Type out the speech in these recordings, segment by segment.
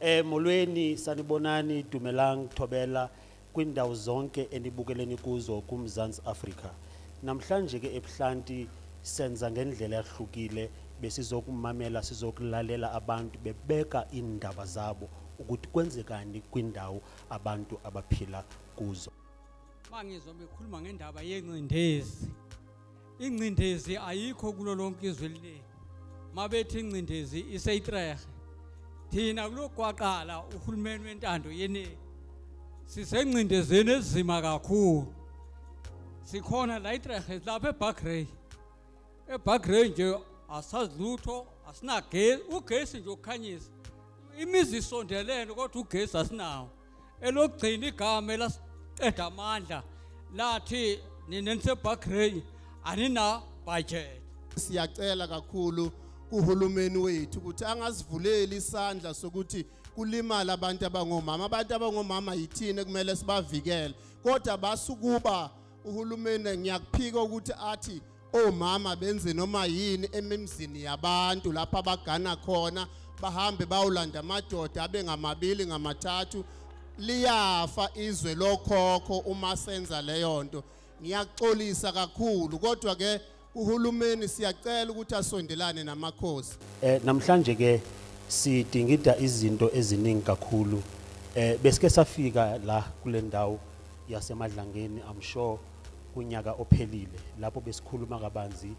Eh molweni sanibonani dumelang thobela kwindawo zonke enibukeleni kuzo kuMzansi Afrika. Namhlanje ke ebuhlanti senza ngendlela yahlukile besizokumamela sizokulalela abantu bebeka indaba zabo ukuthi kwenzekani kwindawo abantu abaphila kuzo. Mangizwa bekhuluma ngendaba yengcindezi ingcindezi ayikho kulo lonke izwe eliningi mabethi ingcindezi iseyitrehe thina kulokwaqala uhulumeni wentando yeningi sisengcindezeni ezima kakhulu sikhona la itrehe lapha ebagrey ebagrey nje asazi lutho asinagesi ugesi nje ukukhanyisa imizi isondelene kodwa ugesi asinawo elokugcina igama elasiqeda amandla lathi nina nisebagrey anina budget siyacela kakhulu kuhulumeni wethu ukuthi angasivuleli isandla sokuthi kulimala abantu abangomama abantu abangomama yithini kumele sibavikele kodwa basukuba uhulumeni ngiyakuphika ukuthi athi omama benze noma yini emimzini yabantu lapha abagana khona bahambe bawulanda amadoda abe ngamabili ngamathathu liyafa izwe lokhokho uma senza leyo nto ngiyaxolisa kakhulu kodwa ke Uhulumeni siyacela ukuthi asondelane namakhosi. Eh namhlanje ke sidingida izinto eziningi kakhulu. Eh besike safika la kule ndawo yasemadlangeni I'm sure kunyaka ophelile lapho besikhuluma kabanzi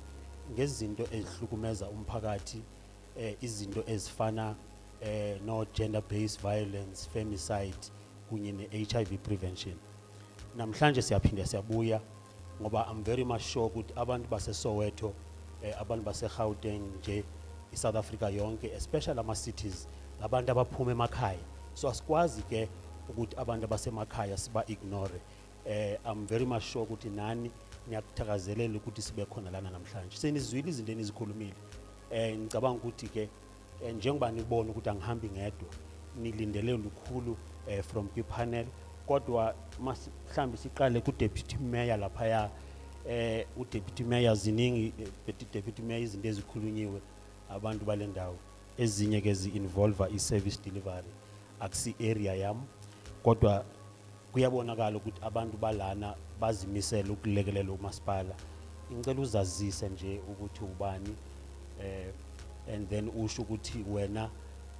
ngezinto ezihlukumeza umphakathi eh izinto ezifana eh no gender based violence femicide kunye ne HIV prevention namhlanje siyaphinde siyabuya ngoba I'm very much sure ukuthi abantu base Soweto eh, abantu base Gauteng nje iSouth Africa yonke especially ama cities labantu abaphuma emakhaya so asikwazi ke ukuthi abantu abasemakhaya siba ignore eh I'm very much sure ukuthi nani niyakuthakazelela ukuthi sibe khona lana namhlanje senizwile izinto enizikhulumile eh ngicabanga ukuthi ke eh, njengoba nibona ukuthi angihambi ngedwa nilindele lukhulu eh, from kwipanel kodwa mhlawumbe siqale kudeputy mayor laphaya eh udeputy mayor ziningi eh, deputy mayor izinto ezikhulunyiwe abantu bale ndawo ezinye ke zi-involva i-service delivery akusi-area yam kodwa kuyabonakala ukuthi abantu balana bazimisele ukulekelela umasipala ngicela uzazise nje ukuthi ubani eh and then usho ukuthi wena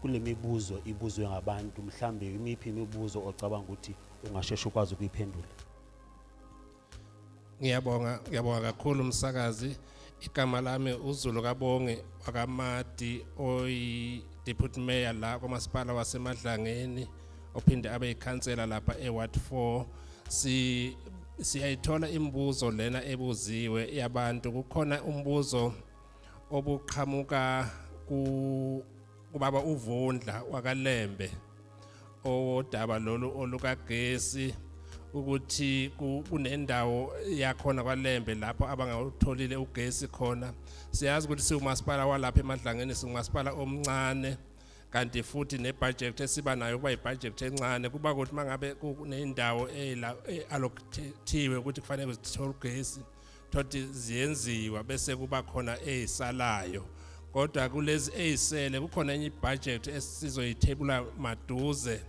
kulemibuzo ibuzwe ngabantu mhlambe imiphi imibuzo ocabanga ukuthi ungasheshe ukwazi ukuyiphendula ngiyabonga ngiyabonga kakhulu umsakazi igama lami uzulu kabonge wakamadi oyi-deputy mayor la kwamasipala wasemadlangeni ophinde abe yikhansela lapha e-ward 4 si siyayithola imibuzo lena ebuziwe yabantu kukhona umbuzo obuqhamuka ku kubaba uvundla wakalembe owodaba lolu olukagesi ukuthi kunendawo yakhona kwalembe lapho abangawutholile ugesi khona siyazi ukuthi siwumasipala walapha emadlangeni singumasipala omncane kanti futhi nebudget esiba nayo kuba ibudget encane kuba ukuthi mangabe kunendawo e-, e-, allocatiwe ukuthi kufanele zithole ugesi thothi ziyenziwa bese kuba khona ezisalayo kodwa kulezi ezisele kukhona enye ibudget esizoyithebula maduze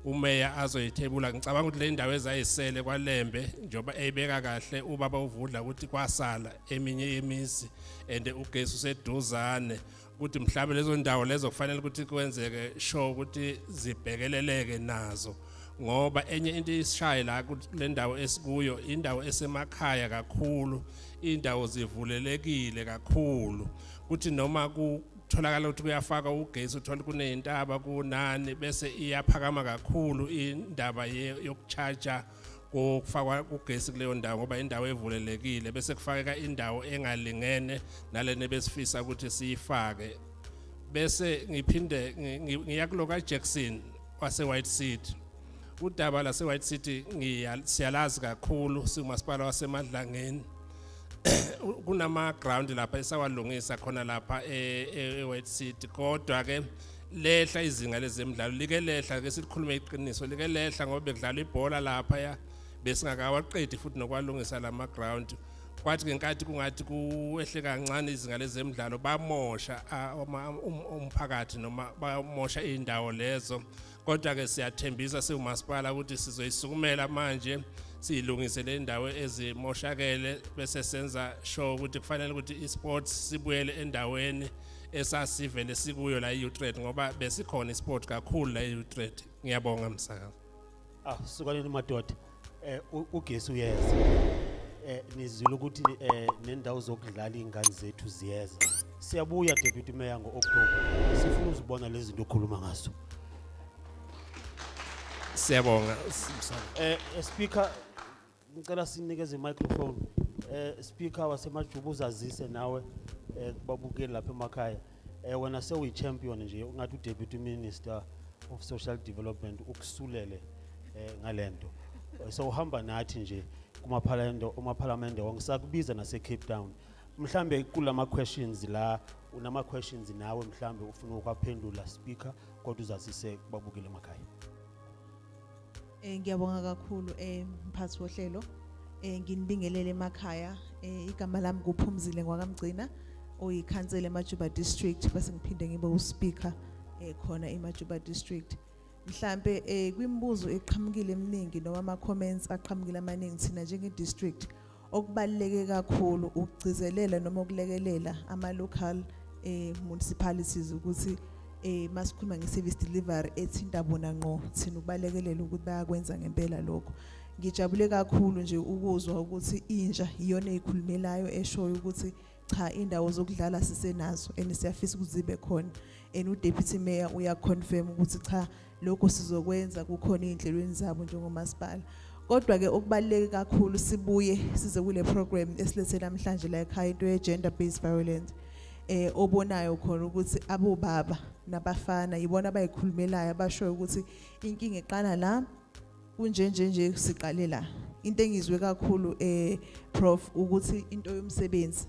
umeya azoyithebula ngicabanga ukuthi le ndawo ezayisele kwalembe njengoba eyibeka kahle ubaba uvudla ukuthi kwasala eminye yemizi and ugesi useduzane ukuthi mhlawumbe lezo ndawo lezo kufanele ukuthi kwenzeke sure ukuthi zibhekeleleke nazo ngoba enye into isishaye la le ndawo esikuyo indawo esemakhaya kakhulu indawo zivulelekile kakhulu kuthi noma kutholakala ukuthi kuyafaka ugesi uthola kuneyintaba kunani bese iyaphakama kakhulu indaba yokucharger kufakwa ugesi kuleyo ndawo ngoba indawo evulelekile bese kufakeka indawo engalingene nalena besifisa ukuthi siyifake bese ngiphinde ngiya kulo kaJackson waseWhite City udaba laseWhite City siyalazi kakhulu singumasipala waseMadlangeni kunama ground lapha esawalungisa khona lapha eWhite e, City kodwa ke lehla izinga lezemidlalo like lehla ke sikhulume iqiniso like lehla ngoba bekudlala ibhola lapha ya besingakawaqedi futhi nokwalungisa lama ground kwathi ngenkathi kungathi kuwehle kancane izinga lezemidlalo bamosha um, umphakathi noma bamosha indawo lezo kodwa ke siyathembisa siwumasipala ukuthi sizoyisukumela manje siyilungise le ndawo ezimoshakele bese senza sure ukuthi kufanele ukuthi isports sibuyele endaweni esasivele sikuyo la e-Utrecht ngoba besikhona isport kakhulu la e-Utrecht ngiyabonga msakazi ah sukanini madoda eh ugesi uyeza eh nizwile ukuthi eh nendawo zokudlala ingane zethu ziyeza siyabuya deputy mayor ngo-october sifuna uzibona lezi zinto okhuluma ngazo siyabonga eh, eh speaker ngicela sinikeze i-microphone um speaker wasemajuba uzazise nawe um kubabukeli lapha emakhaya um wena sewuyi-champion nje ungathi udeputy minister of social development ukusulele um ngale nto sewuhamba nathi nje kumaphalamende wonke sakubiza nasecape town mhlambe kula ma-questions la unama-questions nawe mhlambe ufuna ukwaphendula speaker kodwa uzazise babukele emakhaya Eh ngiyabonga kakhulu eh mphathi wohlelo. Eh nginibingelele emakhaya. Eh igama lami kuphumzile ngwakamgcina oyikhansela eMajuba district bese ngiphinde ngibe uspeaker eh khona eMajuba district. Mhlambe eh kwimibuzo eqhamukile eminingi noma ama comments aqhamukile amaningi thina njenge district Okubaluleke kakhulu ukugcizelela noma ukulekelela ama local eh municipalities ukuthi eh masikhuluma ngeservice delivery ethinta bona ngqo thina ukubalekelela ukuthi bayakwenza ngempela lokho ngijabule kakhulu nje ukuzwa ukuthi inja iyona eyikhulumelayo eshoyo ukuthi cha indawo zokudlala sisenazo and siyafisa ukuzibe khona and udeputy mayor uyaconfirm ukuthi cha lokho sizokwenza kukhona ezinhlelweni zabo njengomasipala kodwa ke okubaleke kakhulu sibuye size kule program esilethe namhlanje la ekhaya into ye gender based violence eh obonayo khona ukuthi abobaba nabafana yibona abayikhulumelayo abashoyo ukuthi inkinga iqala la kunje nje nje siqale la into engizwe kakhulu eh prof ukuthi into yomsebenzi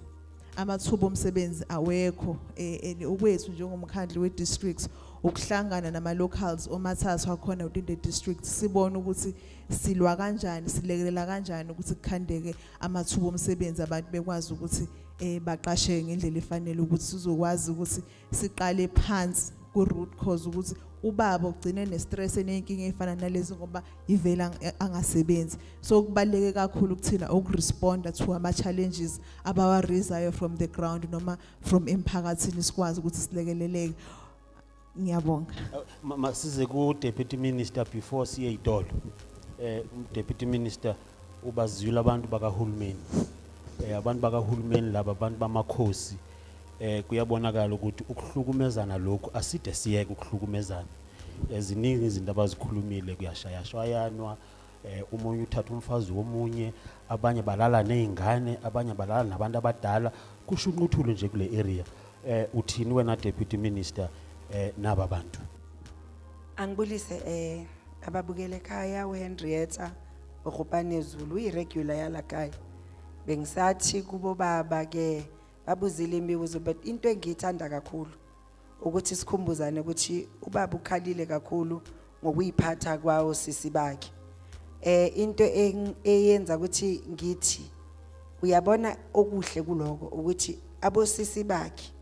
amathuba omsebenzi awekho eh okwethu njengomkhandlu we districts ukuhlangana nama locals omathathu akhona within the district sibone ukuthi silwa kanjani silekelela kanjani ukuthi kukhandeke amathuba omsebenzi abantu bekwazi ukuthi eh baqashe ngendlela efanele ukuthi sizokwazi ukuthi siqale phansi ku root cause ukuthi ubaba ugcine ne stress enenkinga efana nalezi ngoba ivela angasebenzi so kubaleke kakhulu kuthina ukuresponda to ama challenges abawa raisayo from the ground noma from emphakathini sikwazi ukuthi silekeleleke ngiyabonga masize ku deputy minister before siye idolo eh deputy minister ubaziyula abantu bakahulumeni eh abantu bakahulumeni laba abantu bamakhosi eh kuyabonakala ukuthi ukuhlukumezana lokhu aside siyeke ukuhlukumezana eziningi izinto abazikhulumile kuyashayashwayanwa eh umunye uthatha umfazi womunye abanye balala nezingane abanye balala nabantu abadala kusho unquthulo nje kule area eh uthini wena deputy minister eh naba bantu angibulise eh ababukele ekhaya weHenrietta uRhupane Zulu uyiregular yalakaya bengisathi kubo baba ke babuzile imibuzo but into engiyithanda kakhulu ukuthi sikhumbuzane ukuthi ubaba ukhalile kakhulu ngokuyiphatha kwawo sisi bakhe eh into eyenza ukuthi ngithi uyabona okuhle kuloko ukuthi abosisi bakhe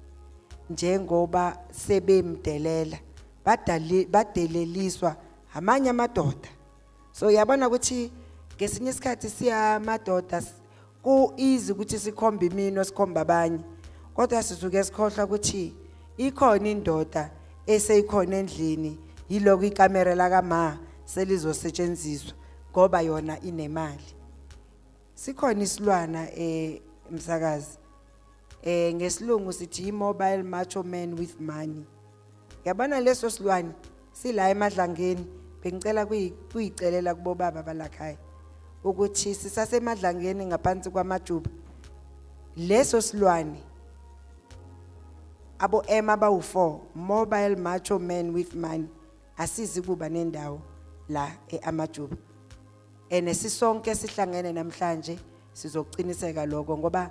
njengoba sebemdelela badeleliswa amanye amadoda so uyabona ukuthi ngesinye isikhathi siyamadoda ku easy ukuthi sikhombe imino sikhomba abanye kodwa sizuke sikhohlwa ukuthi ikhona indoda eseyikhona endlini yiloko ikamera lakama selizosetshenziswa ngoba yona inemali sikhona isilwana emsakazi eh, eh ngesilungu sithi mobile macho man with money yabona leso silwane sila emadlangeni bengicela kuyicelela kubo baba balakhaya ukuthi sisasemadlangeni ngaphansi kwamajuba leso silwane abo ema bawu4 mobile macho man with money asizi kuba nendawo la eamajuba ene sisonke sihlangene namhlanje sizokuqiniseka lokho ngoba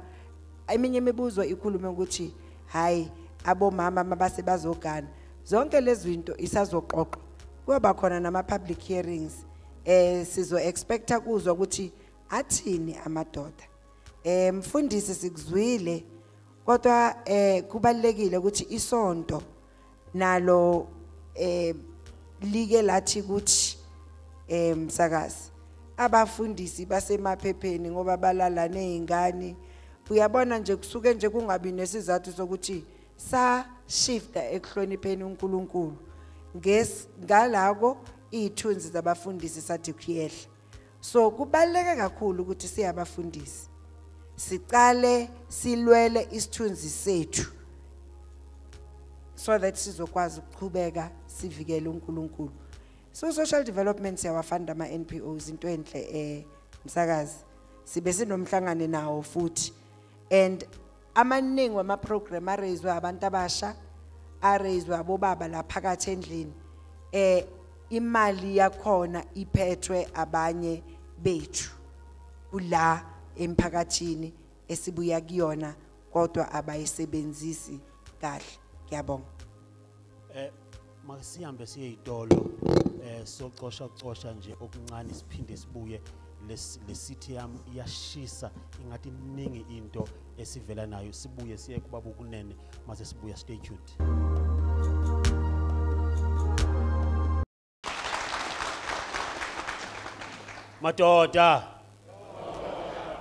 eminye imibuzo ikhulume ukuthi hayi abomama mabase bazogana zonke lezi zinto isazoxoxwa kuyoba khona nama-public hearings eh sizo-expecta kuzwa ukuthi athini amadoda eh mfundisi sikuzwile kodwa eh kubalekile ukuthi isonto nalo eh like lathi ukuthi eh msakazi abafundisi basemaphepheni ngoba balala nezingane uyabona nje kusuke nje kungabi nesizathu sokuthi sa shifta ekuhlonipheni uNkulunkulu nges ngalako iyithunzi zabafundisi sathi kuyehla so kubaluleke kakhulu ukuthi siyabafundisi siqale silwele isithunzi sethu so that sizokwazi ukuqhubeka sivikele uNkulunkulu so social development siyawafunda ama NPOs into enhle eh msakazi sibe sinomhlangane nawo futhi and amaningi wamaprogram areyizwe abantu abasha areyizwe abobaba la phakathi endlini um imali yakhona iphethwe abanye bethu kula emphakathini esibuya kuyona kodwa abayisebenzisi kahle ngiyabonga eh Masihambe siye izitolo eh socosha cosha nje okuncane siphinde sibuye lesithe yami iyashisa ingathi iningi into esivela nayo sibuye siye kubaba ukunene mase sibuya stay tuned madoda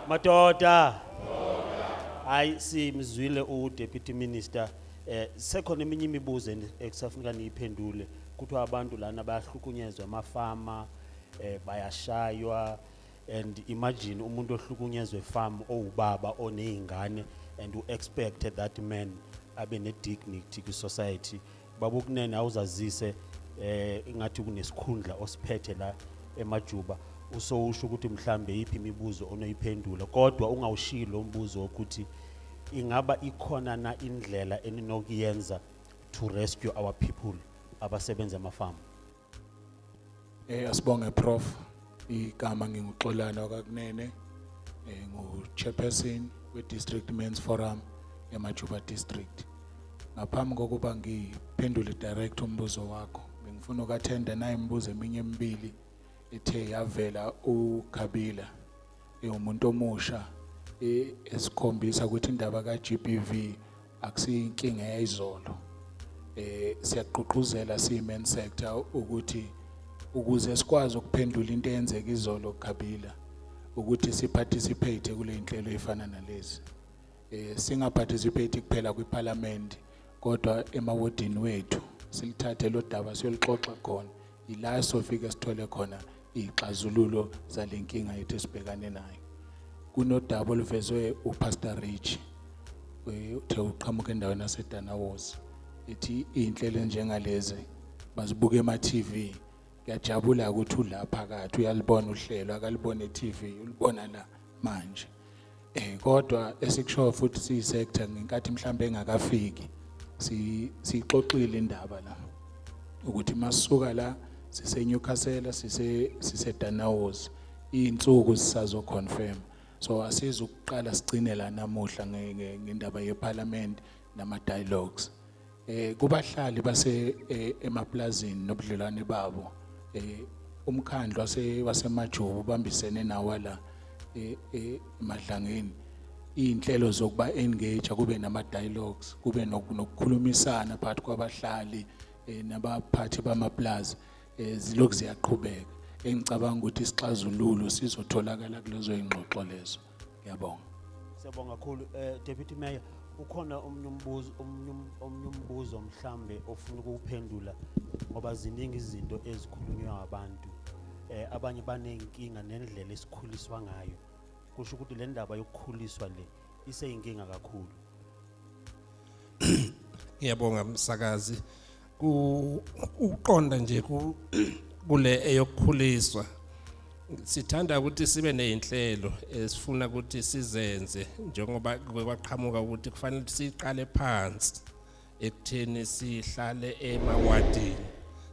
madoda hayi simzwile udeputy minister eh sekhona eminye imibuzo ekusafuneka niyiphendule kuthiwa abantu lana bayahlukunyezwa amafama eh bayashaywa and imagine umuntu ohlukunyezwe farm owubaba onezingane and u expect that man abe ne dignity ku society baba ukunene awuzazise eh ingathi kunesikhundla osiphethe la emajuba usowusho ukuthi mhlambe yiphi imibuzo onoyiphendula kodwa ungawushiyi lo mbuzo wokuthi ingaba ikhona na indlela eninokuyenza to rescue our people abasebenza emafamu Eh asibonge prof igama nginguxolana wakakunene eh ngu chairperson we district men's forum emajuba district ngaphambi kokuba ngiphendule direct umbuzo wakho bengifuna ukathenda naye imibuzo eminye emibili ethe yavela uKhabila ewumuntu omusha e, esikhombisa ukuthi indaba kaGBV akusiyinkinga yayizolo eh siyaqhuqhuzela siyimen sector ukuthi ukuze sikwazi ukuphendula into eyenzeka izolo kuGabila ukuthi siparticipate kule nhlelo efana nalezi eh singaparticipate kuphela kwiparliament kodwa emawodini wethu silithathe lo daba siyolixoxa khona yila sofike sithole khona iy'xazululo zale nkinga yethu esibhekane nayo kunodaba oluvezwe upastor rich eh, uthe uqhamuka endaweni yasedanawozi ithi iy'nhlelo enjengalezi bazibuka ema-tv ngiyajabula ukuthi ula phakathi uyalibona uhlelo akalibona e-tv ulibona la manje eh kodwa esikushoyo futhi si sector ngenkathi mhlambe engakafiki si sixoxile indaba la ukuthi masuka la sise Newcastle sise sise Danaos insuku sisazo confirm so asiza ukuqala sigcine la namuhla ngendaba yeparliament nama dialogues eh kubahlali base eh, emaplazini nobudlelwane babo eh umkhandlu wase wasemajubu bambisene nawa la eh, eh emadlangeni inhlelo zokuba engage kube nama dialogues kube nokukhulumisana phakathi kwabahlali eh, nabaphathi bamaplaza zilokhu ziyaqhubeka engicabanga ukuthi isixazululo sizotholakala kulezo ingxoxo lezo ngiyabonga siyabonga kakhulu eh deputy mayor ukhona omunye umbuzo omunye um-, omunye umbuzo mhlambe ofuna ukuphendula ngoba ziningi izinto ezikhulunywa abantu eh abanye banenkinga nendlela esikhuliswa ngayo kusho ukuthi le ndaba yokukhuliswa le iseyinkinga kakhulu ngiyabonga msakazi ukuqonda nje kule eyokukhuliswa sithanda ukuthi sibe nezinhlelo esifuna ukuthi sizenze njengoba kwaqhamuka ukuthi kufanele siqale phansi ekutheni sihlale emawadini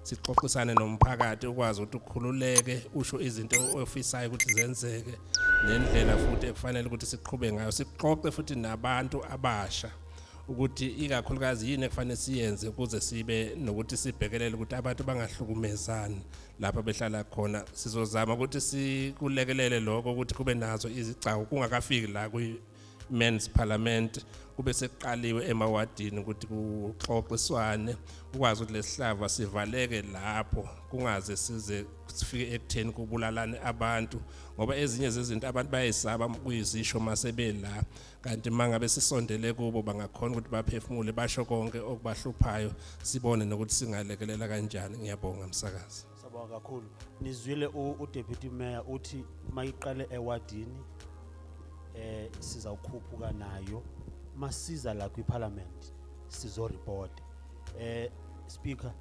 sixoxisane nomphakathi ukwazi ukuthi ukhululeke usho izinto ofisayo ukuthi zenzeke nendlela futhi ekufanele ukuthi siqhube ngayo sixoxe futhi nabantu abasha ukuthi ikakhulukazi yini ekufanele siyenze ukuze sibe nokuthi sibhekelele ukuthi abantu bangahlukumezani lapha behlala khona sizozama ukuthi sikulekelele lokho ukuthi kube nazo izigcawu kungakafiki la kwi-men's parliament kube sekuqaliwe emawadini ukuthi kuxoxiswane ukwazi ukuthi lesihlava sivaleke lapho kungaze size sifike ekutheni kubulalane abantu ngoba ezinye zezinto abantu bayayisaba kuyizisho masebela kanti mangabe sisondele kubo bangakhona ukuthi baphefumule basho konke okubahluphayo sibone nokuthi singalekelela kanjani ngiyabonga msakazi sabonga kakhulu nizwile udeputy mayor uthi mayiqale ewadini eh sizawukhuphuka nayo masiza la kwiparliament sizoreport eh speaker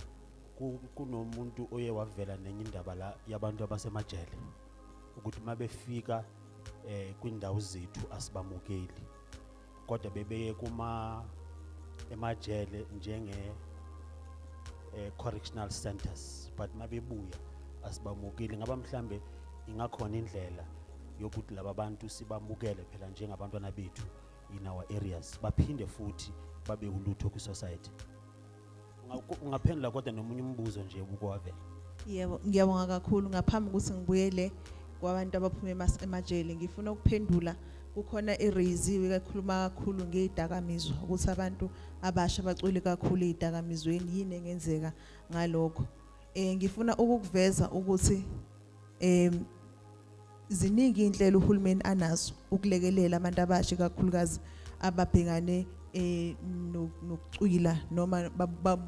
kunomuntu oye wavela nenye indaba la yabantu abasemajele ukuthi uma befika eh kwindawo zethu asibamukeli kodwa bebeye kuma emajele njenge eh, correctional centers but mabebuya asibamukeli ngaba mhlambe ingakhona indlela yokuthi laba bantu sibamukele phela njengabantwana bethu in our areas baphinde futhi babe ulutho kwi society ungaphendula kodwa nomunye umbuzo nje ubukwavela yebo ngiyabonga kakhulu ngaphambi ukuthi ngibuyele kwabantu abaphuma emajele ngifuna ukuphendula kukhona iraisiwe kakhuluma kakhulu ngezidakamizwa ukuthi abantu abasha bacwele kakhulu ezidakamizweni yini engenzeka ngalokho eh ngifuna ukukuveza ukuthi em ziningi inhlelo uhulumeni anazo ukulekelela abantu abasha kakhulukazi ababhekane eh nokucwila noma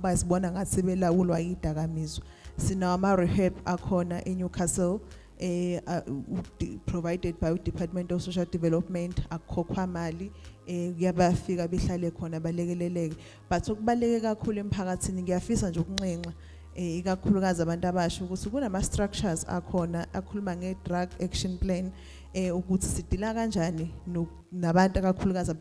bazibona ngathi belawulwa idakamizwa sinawo ama rehab akhona eNewcastle eh provided by uDepartment of Social Development akukhokhwa mali eh kuyabafika behlale khona balekeleleke but okubaleke kakhulu emphakathini ngiyafisa nje ukunxenxa eh, ikakhulukazi abantu abasha ukuthi kunama structures akhona akhuluma nge drug action plan eh ukuthi sidila kanjani nabantu akakhulukazi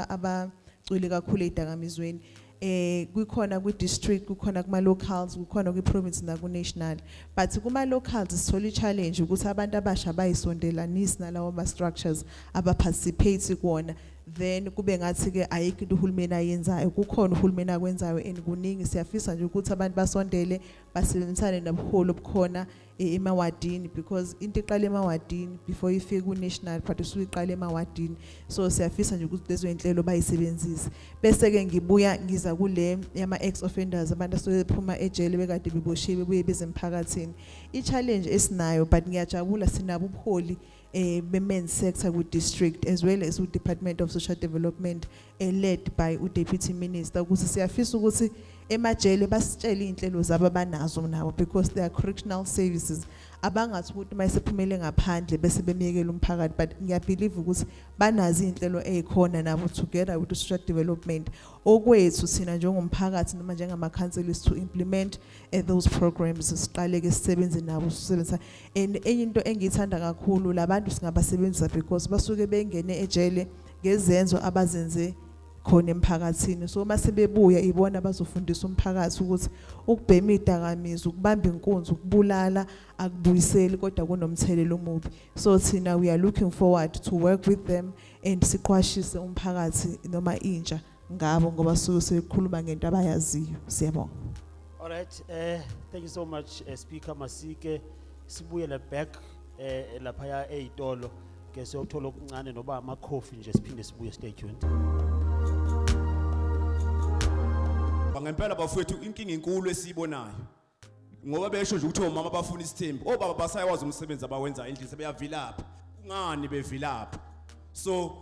abacwile kakhulu ezidakamizweni eh kukhona kwi district kukhona kuma locals kukhona kwi province na ku national but kuma locals sithole challenge ukuthi abantu abasha bayisondelanisi nalawo ma structures aba participate kuona then kube ngathi ke ayikho into uhulumeni ayenzayo kukhona uhulumeni akwenzayo and kuningi siyafisa nje ukuthi abantu basondele basebenzisane nobuholi obukhona e, emawadini because into iqala emawadini before ifike ku-national but usuke iqala emawadini so siyafisa nje ukuthi lezo iy'nhlelo bayisebenzise bese-ke ngibuya ngiza kule yama-ex offenders abantu asuke bephuma ejele bekade beboshiwe bebuye bezemphakathini i-challenge esinayo but ngiyajabula sinabo ubuholi eh, be-men sector kwi-district as well as u-department of social development eh, led by u-deputy minister ukuthi siyafisa ukuthi emajele basitshele iy'nhlelo zabo abanazo nabo because they are correctional services abangathi ukuthi uma esephumele ngaphandle bese bemyekela umphakathi but ngiyabhilive ukuthi banazo iy'nhlelo ey'khona nabo together with social development okwethu thina njengomphakathi noma njengamakhanseli is to implement eh, those programs siqale-ke sisebenze nabo sisebenzisa and enye into engiyithanda kakhulu labantu singabasebenzisa because basuke bengene ejele ngezenzo abazenze khona emphakathini so uma sebebuya ibona bazofundisa umphakathi ukuthi ukubhema idakamizwa ukubamba inkunzi ukubulala akubuyiseli kodwa kunomthelela omubi so thina we are looking forward to work with them and siqwashise umphakathi noma intsha ngabo ngoba suke sekhuluma ngento abayaziyo siyabonga all right eh thank you so much uh, speaker masike sibuyele back eh lapha ya ezitolo ke siyothola okuncane noba ama coffee nje siphinde sibuye stay tuned ngempela bafowethu inkinga inkulu esiyibonayo ngoba besho nje ukuthi omama bafuna isithembu obaba basayawazi umsebenzi abawenza endlini sebeyavilapha kungani bevilapha so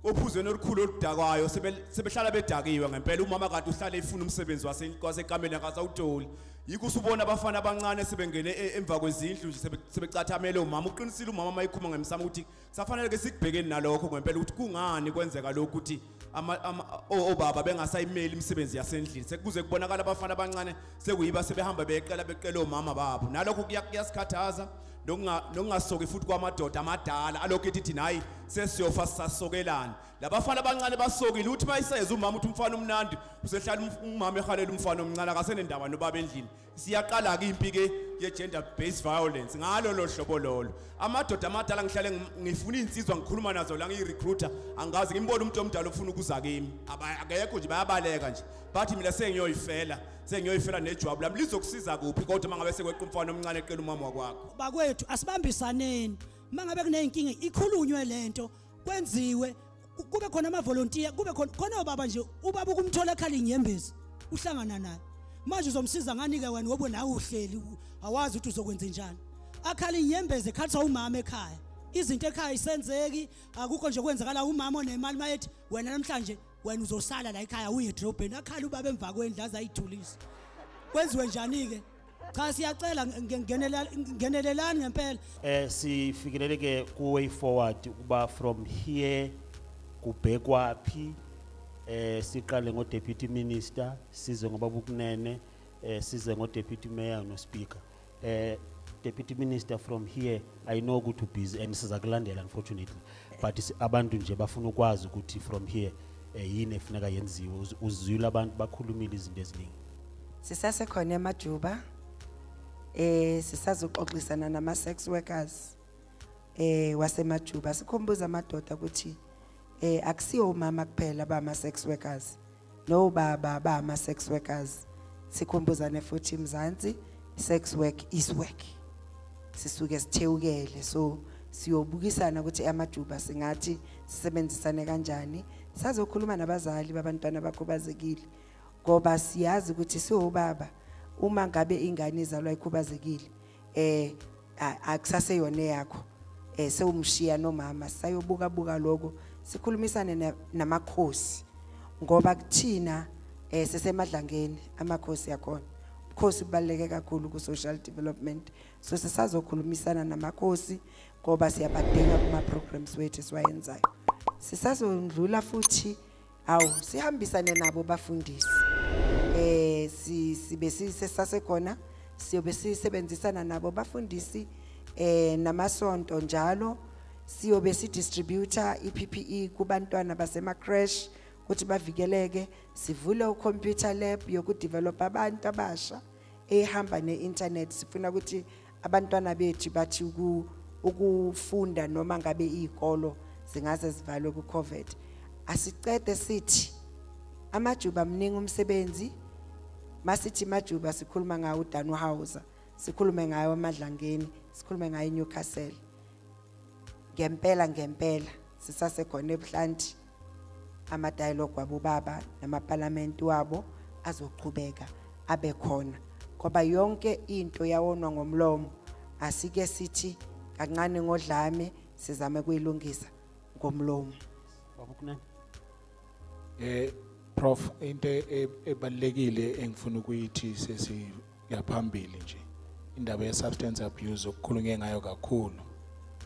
ophuzweni olukhulu oludakwayo sebehlala bedakiwe ngempela umama kanti uhlale efuna umsebenzi wasekameni akasawutoli yikho usubona abafana abancane sebengene e, emva kwezindlu nje sebecathamele umama uqinisile umama uma ekhuma ngemsamo ukuthi safanele ke sikubhekeni nalokho ngempela ukuthi kungani kwenzeka lokhu ukuthi obaba bengasayimeli imisebenzi yasendlini sekuze kubonakala abafana abancane sekuyiba sebehamba beyeqela beqela omama babo nalokho kuyasikhathaza nokungasoki futhi kwamadoda amadala alokhu ethi thina hayi sesiyofa sisasokelani labafana abancane basokile uthi uma iseza umama uthi umfana omnandi usehlala umama ehalela umfana omncane akasenendaba nobaba endlini siyaqala-ke impi-ke ye-gender based violence ngalo lo hlobo lolo amadoda amadala ngihlale ngifuna iy'nsizwa ngikhuluma nazo la ngiyi-recruiter angazi ngimbone umuntu omdala ofuna ukuza kimi akekho nje bayabaleka nje bathi mina sengiyoyifela sengiyoyifela nejwabu lami lizokusiza kuphi kodwa uma ngabe sekweqa umfana omncane eqela umama wakwakho bakwethu asibambisaneni uma ngabe kuney'nkinga ikhulunywe le nto kwenziwe kube khona amavolontiya kube khona khona ubaba nje ubaba ukumthola ekhala inyembezi uhlangana naye manje uzomsiza nganike wena ngoba nawe uhleli awazi ukuthi uzokwenza njani akhala inyembezi ekhatha umama ekhaya izinto ekhaya isenzeki akukho nje kwenzakala umama onemali mayethi wena namhlanje wena uzosala la ekhaya uye edrobheni akhala ubaba emva kwendlu aze ayithulise kwenziwe njani-ke cha siyacela ngenelelani ngempela eh sifikeleleke ku way forward ukuba from here kubhekwa phi eh siqale ngo deputy minister size ngoba bukunene eh size ngo deputy mayor no speaker eh deputy minister from here i know ukuthi ubusy and siza kulandela unfortunately but abantu nje bafuna ukwazi ukuthi from here eh, yini efuneka yenziwe uzwile abantu bakhulumile izinto eziningi sisasekhona emajuba eh sisazoxoxisana nama sex workers eh wasemajuba sikhumbuza amadoda ukuthi eh akusiyo umama kuphela bama sex workers no baba ba ama sex workers sikhumbuzane futhi mzansi sex work is work sisuke sithewukele so siyobukisana ukuthi amajuba singathi sisebenzisane kanjani sazokhuluma nabazali babantwana bakhubazekile ngoba siyazi ukuthi siwobaba uma ngabe ingane izalwa ikhubazekile eh akusase yona yakho eh sewumshiya nomama sayobuka buka lokho sikhulumisane namakhosi ngoba kuthina eh sesemadlangeni amakhosi yakhona ukhosi kubaluleke kakhulu ku social development so sisazokhulumisana namakhosi ngoba siyabadinga kuma programs wethu siwayenzayo sisazondlula futhi hawu sihambisane nabo bafundisi eh sibe sisesasekhona siyobe sisebenzisana nabo bafundisi eh namasonto njalo siyobe si distributor iPPE kubantwana basema crash ukuthi bavikeleke sivule u computer lab yoku develop abantu abasha ehamba ne internet sifuna ukuthi abantwana bethu bathi ukufunda noma ngabe izikolo zingaze zivalwe ku covid asicede sithi amajuba mningi umsebenzi masithi majuba sikhuluma ngawo uDanu Hauser sikhulume ngayo amadlangeni sikhulume ngayo iNewcastle ngempela ngempela sisasekhona ebuhlanti amadialogue wabobaba namapalamenti wabo azochubeka abe khona ngoba yonke into yawonwa ngomlomo asike sithi kancane ngodlame sizame kuyilungisa ngomlomo babukunene eh prof into e-, ebalekile engifuna ukuyithi sesi yaphambili nje indaba ye-substance abuse okukhulunywe ngayo kakhulu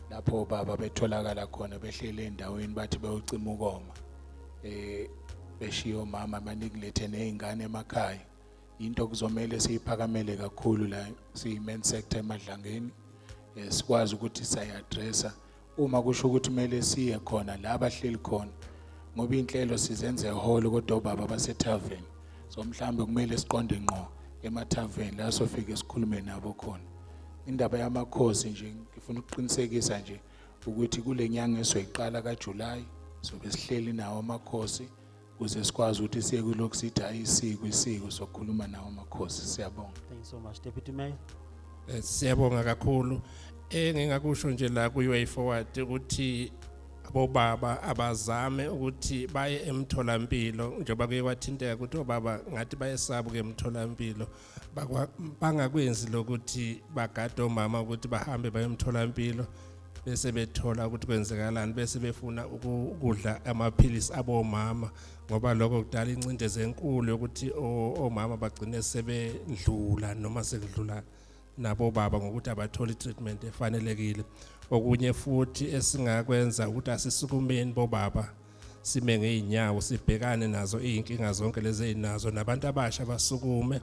lapho baba betholakala khona behlele endaweni bathi bewucima ukoma eh beshiya omama banikulethe nezingane emakhaya into kuzomela siyiphakamele kakhulu la siyi-main sector emadlangeni eh, sikwazi ukuthi sayi-addressa uma kusho ukuthi kumele siye khona la bahleli khona ngoba inhlelo sizenze ehholo kodwa obaba basethaveni so mhlawumbe kumele siqonde ngqo emathaveni la sofike sikhulume nabo khona indaba yamakhosi nje ngifuna ukuqinisekisa nje ukuthi kule nyanga esoyiqala kajulayi sobe sihleli nawo amakhosi kuze sikwazi ukuthi siye kulokhu sithi ayisiko isiko sokukhuluma nawo amakhosi siyabonga thank you so much deputy mayor eh, siyabonga kakhulu engingakusho nje la kuyi-way forward ukuthi bobaba abazame ukuthi baye emtholampilo njengoba kuye kwathinteka ukuthi obaba ngathi bayesaba ke emtholampilo bangakwenzi lokuthi bagade omama ukuthi bahambe bayomtholampilo bese bethola ukuthi kwenzekalani bese befuna ukudla amaphilisi abomama ngoba lokho kudala incindezi enkulu yokuthi omama bagcine sebedlula noma sekudlula nabo baba ngokuthi abatholi treatment efanelekile okunye futhi esingakwenza ukuthi asisukumeni bobaba sime ngeyinyawo sibhekane nazo izinkinga zonke lezi ezinazo nabantu abasha basukume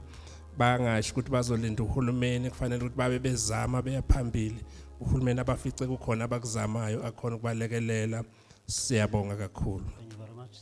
bangasho ukuthi bazolinda uhulumeni kufanele ukuthi babe bezama beya phambili uhulumeni abafice kukhona abakuzamayo akhona ukubalekelela siyabonga kakhulu Thank you very much.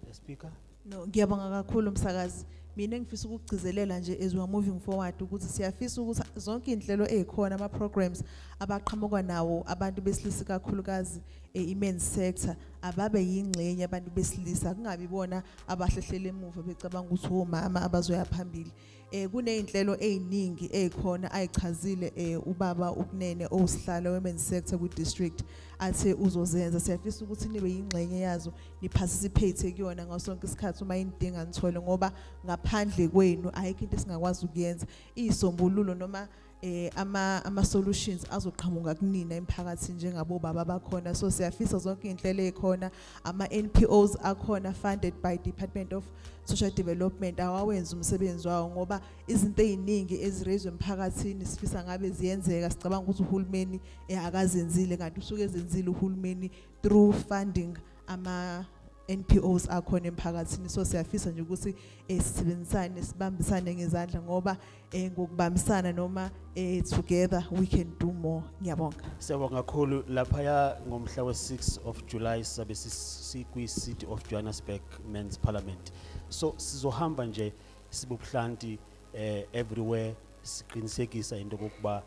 The speaker No ngiyabonga kakhulu msakazi. Mina ngifisa ukugcizelela nje as we are moving forward ukuthi siyafisa ukuthi zonke inhlelo ezikhona ama programs abaqhamuka nawo abantu besilisa kakhulukazi e-men's sector ababe yingxenye abantu besilisa kungabi bona abahlehlele emuva becabanga ukuthi omama abazoya phambili eh kunezinhlelo eziningi ezikhona ayichazile eh ubaba ukunene owusihlalo women sector ku district athe uzozenza siyafisa ukuthi nibe yingxenye yazo niparticipate kuyona ngasonke isikhathi uma inidinga nithole ngoba ngaphandle kwenu ayikho into esingakwazi ukuyenza isombululo noma eh ama ama solutions azoqhamuka kunina emphakathini njengabo baba bakhona so siyafisa zonke inhlelo ezikhona ama NPOs akhona funded by Department of Social Development awawenza umsebenzi wawo ngoba izinto eziningi ezirezwe emphakathini sifisa ngabe ziyenzeka sicabanga ukuthi uhulumeni eh, akazenzile kanti usuke ezenzile uhulumeni through funding ama NPOs akhona emphakathini so siyafisa nje ukuthi eh, sisebenzisane sibambisane ngezandla ngoba eh, ngokubambisana noma eh, together we can do more ngiyabonga siyabonga kakhulu lapha ya ngomhla we6 of July sabe sikwi City of Johannesburg Men's Parliament so sizohamba nje sibubuhlanti eh, everywhere siqinisekisa into kokuba